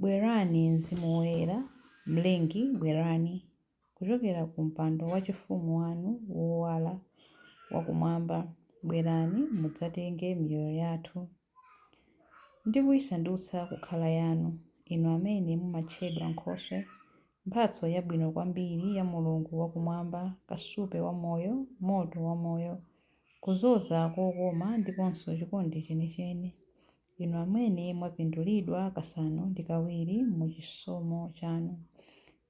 Bwerani, Mzimu Woyera, Mlengi, bwerani, kuchokera ku mpando wachifumu wanu wowala wakumwamba, bwerani, mudzatenge miyoyo yathu ndi kuisandutsa kukhala yanu, inu amene mumatchedwa nkhoswe, mphatso yabwino kwambiri ya Mulungu wa Kumwamba, kasupe wa moyo, moto wa moyo. Kudzoza kokoma ndiponso chikondi chenicheni, inu amene mwapindulidwa kasanu ndi kawiri mu chisomo chanu,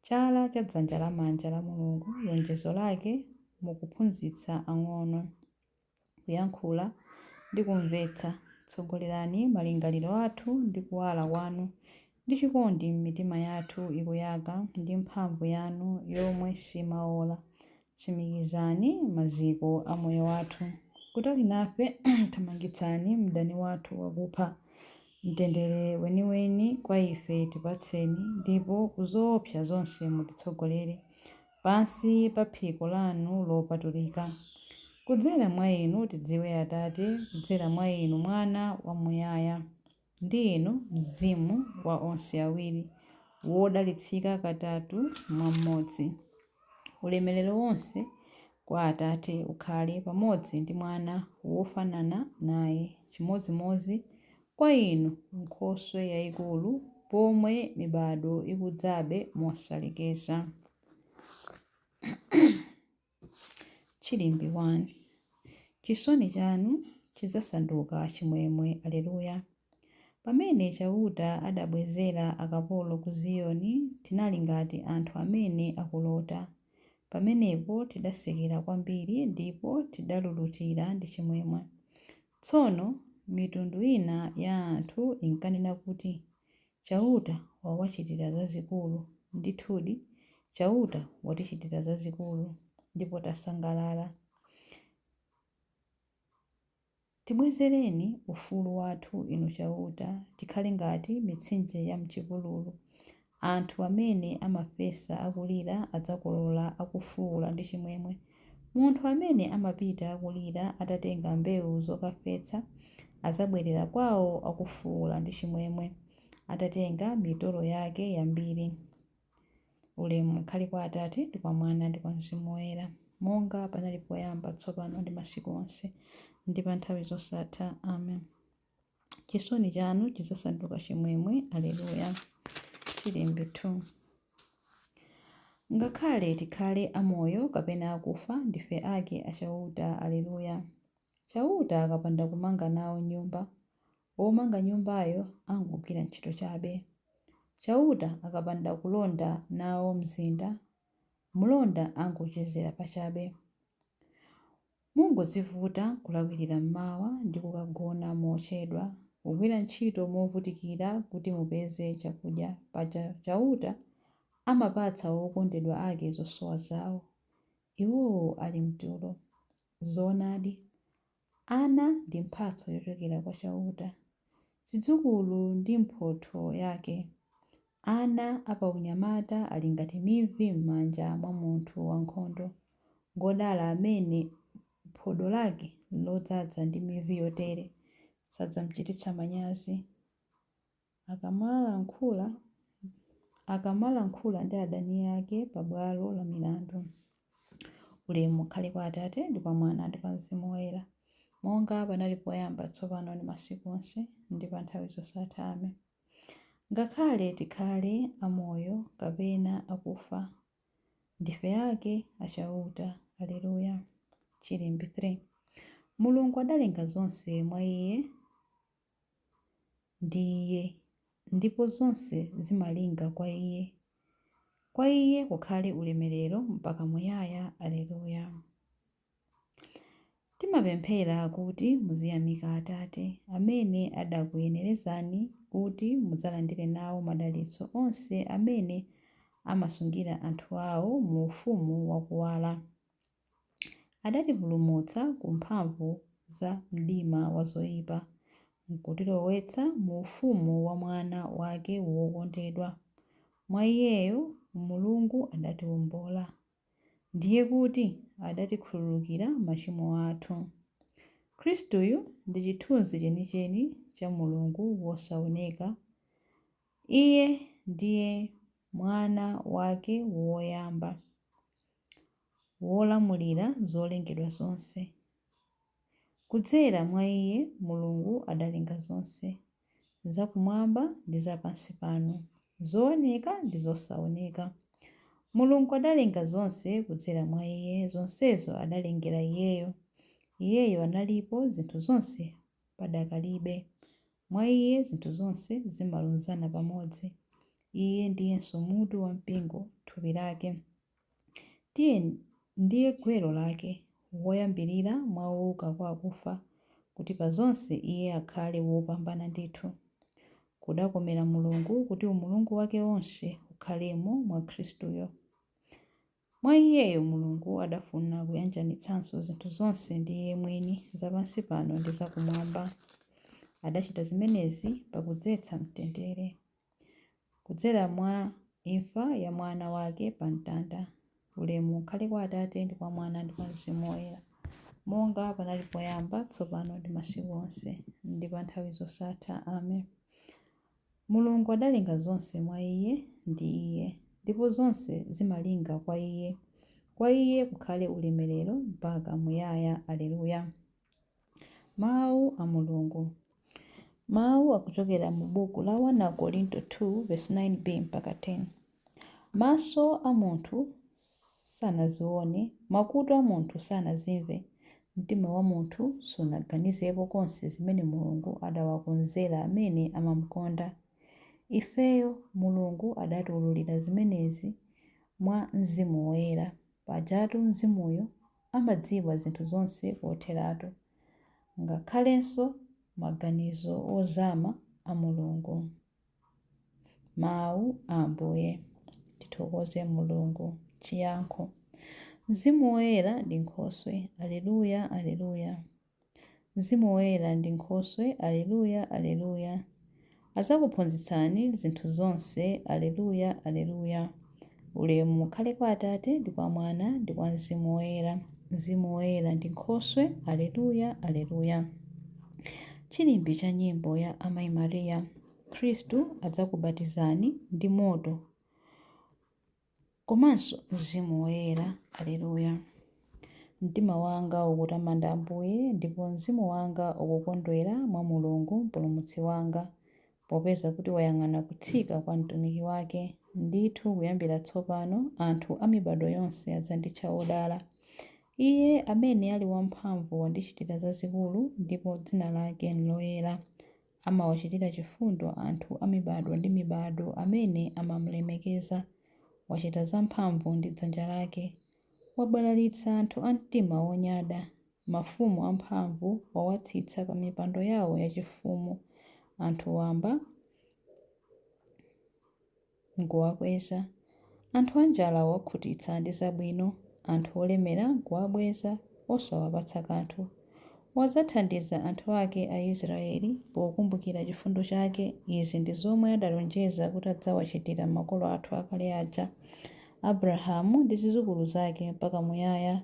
chala cha dzanja lamanja la Mulungu, lonjezo lake, mu kuphunzitsa ang'ono, kuyankhula, ndi kumvetsa, tsogolerani malingaliro athu ndi kuwala kwanu Ndi chikondi m'mitima yathu ikuyaka ndi mphamvu yanu yomwe simaola, tsimikizani maziko a moyo wathu. Kutali nafe thamangitsani mdani wathu wakupha. Mtendere weniweni kwa ife tipatseni, ndipo ku zoopsa zonse mutitsogolere, pansi pa phiko lanu lopatulika. Kudzera mwa inu tidziwe Atate, kudzera mwa inu Mwana wamuyaya. Ndi Inu, Mzimu wa onse awiri, wodalitsika katatu mwa Mmodzi. Ulemelero wonse kwa Atate ukhale pamodzi ndi Mwana wofanana naye, chimodzimodzi kwa Inu, Nkhoswe yaikulu, pomwe mibadwo ikudzabe mosalekeza. Chilimbi 1. Chisoni chanu chidzasanduka chimwemwe, Alleluia. Pamene Chauta adabwezera akapolo ku Ziyoni, tinali ngati anthu amene akulota. Pamenepo tidasekera kwambiri, ndipo tidalulutira ndi chimwemwe. Tsono mitundu ina ya anthu inkanena kuti, Chauta wawachitira zazikulu. Ndithudi, Chauta watichitira zazikulu, ndipo tasangalala. Tibwezereni ufulu wathu, Inu Chauta, tikhale ngati mitsinje yam'chipululu. Anthu amene amafesa akulira adzakolola akufuula ndi chimwemwe. Munthu amene amapita akulira atatenga mbewu zokafesa, adzabwerera kwawo akufuula ndi chimwemwe, atatenga mitolo yake yambiri. Ulemu ukhale kwa Atate, ndi kwa Mwana, ndi kwa Mzimu Woyera. monga panali poyamba, tsopano, ndi masiku onse, ndi pa nthawi zosatha. Amen. chisoni chanu chidzasanduka chimwemwe aleluya chilimbe 2 ngakhale tikhale amoyo kapena akufa ndife ake a chauta aleluya chauta akapanda kumanga nawo nyumba womanga nyumbayo angogwira ntchito chabe chauta akapanda kulonda nawo mzinda mlonda angochezera pachabe Mungodzivuta kulawirira m'mawa ndi kukagona mochedwa, kugwira ntchito movutikira kuti mupeze chakudya. Paja Chauta amapatsa okondedwa ake zosowa zao, iwowo ali m'tulo. Zoonadi, ana ndi mphatso yochokera kwa Chauta, zidzukulu ndi mphotho yake. Ana a paunyamata ali ngati mivi m'manja mwa munthu wankhondo. Ngwodala amene phodo lake lodzaza ndi mivi yotere, sadzamchititsa manyazi. Akamalankhula, akamalankhula ndi adani ake pa bwalo la milandu. Ulemu ukhale kwa Atate, ndi kwa Mwana, ndi kwa Mzimu Woyera, monga panali poyamba, tsopano ndi masiku onse, ndi pa nthawi zosatha. Amen. Ngakhale tikhale amoyo kapena akufa, ndife ake a Chauta. Alleluia, Chilimbe 3. Mulungu adalenga zonse mwa Iye, ndi Iye, ndipo zonse zimalinga kwa Iye. Kwa Iye kukhale ulemerero mpaka muyaya. Alleluia. Timapemphera kuti muziyamika Atate, amene adakuyenerezani kuti mudzalandire nawo madalitso onse amene amasungira anthu ao mu ufumu wa kuwala. Adatipulumutsa ku mphamvu za mdima wa zoipa, nkutilowetsa mu ufumu wa Mwana wake wokondedwa. Mwa Iyeyo Mulungu adatiwombola. ndiye kuti adatikhululukira machimo athu. Khristuyu ndi chithunzi chenicheni cha Mulungu wosaoneka. Iye ndiye Mwana wake woyamba, Wolamulira zolengedwa zonse. Kudzera mwa Iye Mulungu adalenga zonse, za kumwamba ndi za pansi pano, zooneka ndi zosaoneka. Mulungu adalenga zonse kudzera mwa Iye, zonsezo adalengera Iyeyo. Iyeyo analipo zinthu zonse padakalibe. Mwa Iye zinthu zonse zimalunzana pamodzi. Iye ndiyenso mutu wa mpingo, thupi lake. Iye ndiye gwero lake, woyambirira mwa owuka kwa akufa, kuti pa zonse iye akhale wopambana ndithu. Kudakomera Mulungu kuti Umulungu wake wonse ukhalemo mwa Khristuyo. Mwa Iyeyo Mulungu adafuna kuyanjanitsanso zinthu zonse ndi Iye mwini, za pansi pano ndi za Kumwamba. Adachita zimenezi pakudzetsa mtendere. kudzera mwa imfa ya Mwana wake pa mtanda. Ulemu ukhale kwa Atate, ndi kwa Mwana, ndi kwa Mzimu Woyera, monga panali poyamba, tsopano ndi masiku onse, ndi pa nthawi zosatha. Amen. Mulungu adalenga zonse mwa Iye, ndi Iye, ndipo zonse zimalinga kwa Iye. Kwa Iye kukhale ulemerero mpaka muyaya. Alleluia. Mawu a Mulungu. Mawu akuchokera mu buku la 1 Akorinto 2 vesi 9b mpaka 10. Maso a munthu sanazione, makutu a munthu sanazimve, mtima wa munthu sunaganizepo konse zimene Mulungu adawakonzera amene amamkonda. Ifeyo, Mulungu adatiwululira zimenezi mwa Mzimu Woyera. Pajatu Mzimuyo amadziwa zinthu zonse kotheratu, ngakhalenso maganizo ozama a Mulungu. Mawu a Ambuye. Tithokoze Mulungu. Chiyankho Mzimu Woyera ndi Nkhoswe. Aleluya, Aleluya! Mzimu Woyera ndi Nkhoswe, Aleluya, Aleluya! Adzakuphunzitsani zinthu zonse, Aleluya, Aleluya! Ulemu ukhale kwa Atate, ndi kwa Mwana, ndi kwa Mzimu Woyera. Mzimu Woyera ndi Nkhoswe, Aleluya, Aleluya! Chilimbi cha nyimbo ya Amayi Maria, Khristu adzakubatizani ndi moto. Komanso Mzimu Woyera. Aleluya! Mtima wanga ukutamanda Ambuye, ndipo mzimu wanga ukukondwera mwa Mulungu Mpulumutsi wanga, popeza kuti wayang'ana kutsika kwa mtumiki wake. Ndithu kuyambira tsopano anthu a mibadwo yonse adzanditcha wodala. Iye amene ali wamphamvu wandichitira zazikulu, ndipo dzina lake n'loyera. Amawachitira chifundo anthu a mibadwo ndi mibadwo amene amamulemekeza. Wachita zamphamvu ndi dzanja lake. Wabalalitsa anthu a mtima wonyada. Mafumu amphamvu wawatsitsa pa mipando yao yachifumu. Anthu wamba. n'kuwakweza, anthu anjala wawakhutitsa ndi zabwino, anthu olemera n'kuwabweza, osawapatsa kanthu. Wadzathandiza anthu ake a Isiraeli pokumbukira chifundo chake. Izi ndi zomwe adalonjeza kuti adzawachitira makolo athu akale aja, Abrahamu ndi zidzukulu zake mpaka muyaya.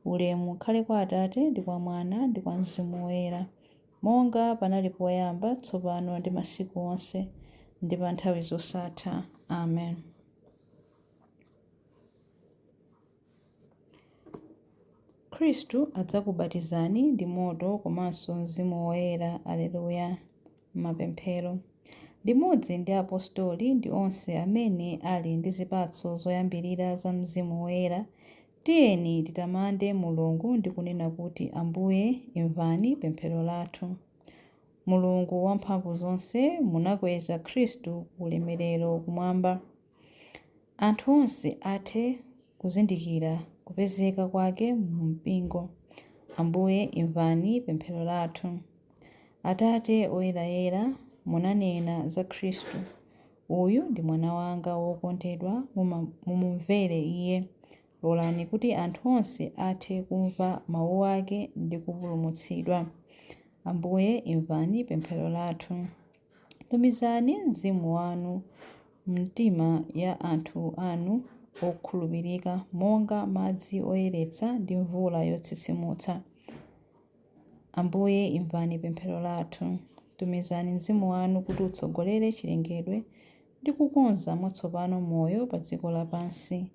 Ulemu ukhale kwa Atate ndi kwa Mwana ndi kwa mzimu woyera. Monga panali poyamba, tsopano ndi masiku onse, ndi pa nthawi zosatha. Amen. Khristu adzakubatizani ndi moto komanso Mzimu Woyera. Aleluya. Mapemphero. Limodzi ndi apostoli ndi onse amene ali ndi zipatso zoyambirira za Mzimu Woyera, Tiyeni titamande Mulungu ndi kunena kuti, Ambuye, imvani pemphero lathu. Mulungu Wamphamvuzonse, munakweza Khristu ku ulemerero kumwamba. Anthu onse athe kuzindikira kupezeka kwake mu mpingo. Ambuye, imvani pemphero lathu. Atate Oyerayera, munanena za Khristu Uyu ndi Mwana wanga wokondedwa, mumumvere Iye. Lolani kuti anthu onse athe kumva Mawu Ake ndi kupulumutsidwa. Ambuye, imvani pemphero lathu. Tumizani Mzimu Wanu m'mitima ya anthu Anu okhulupirika monga madzi oyeretsa ndi mvula yotsitsimutsa. Ambuye, imvani pemphero lathu. Tumizani Mzimu wanu kuti utsogolere chilengedwe ndi kukonza mwatsopano moyo pa dziko lapansi.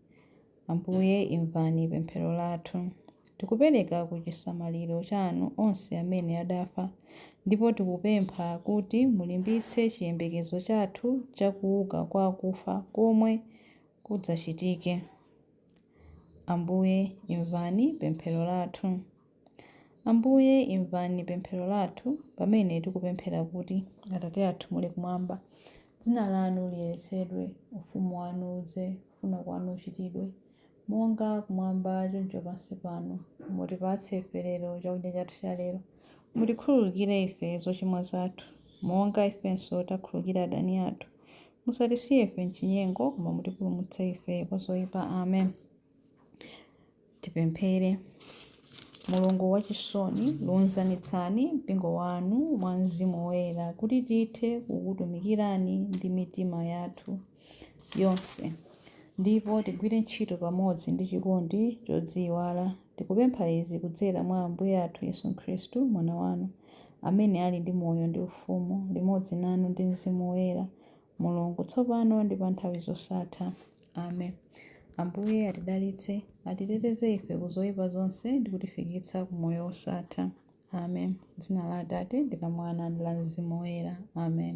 Ambuye, imvani pemphero lathu. Tikupereka ku chisamaliro chanu onse amene adafa, ndipo tikupempha kuti mulimbitse chiyembekezo chathu cha kuuka kwa akufa komwe kudzachitike. Ambuye, imvani pemphero lathu. Ambuye, imvani pemphero lathu pamene tikupemphera kuti, Atate athu muli kumwamba, dzina lanu liyeretsedwe, ufumu wanu udze, kufuna kwanu kuchitidwe, monga kumwamba choncho pansi pano. Mutipatse ife lero chakudya chathu cha lero. Mutikhululukire ife zochimwa zathu, monga ifenso takhululukira adani athu. Musatisiye ife m'chinyengo, koma mutipulumutse ife kwa zoipa. Amen. Tipemphere. Mulungu wachisoni, lunzanitsani mpingo wanu mwa Mzimu Woyera kuti tithe kukutumikirani ndi mitima yathu yonse ndipo tigwire ntchito pamodzi ndi chikondi chodziiwala. Tikupempha izi kudzera mwa Ambuye athu Yesu Khristu, Mwana wanu, amene ali ndi moyo ndi ufumu limodzi nanu ndi Mzimu Woyera, Mulungu, tsopano ndi pa nthawi zosatha. Amen. Ambuye atidalitse, atiteteze ife ku zoipa zonse ndi kutifikitsa ku moyo wosatha. Amen. M'dzina la Atate, ndi la Mwana, ndi la Mzimu Woyera. Amen.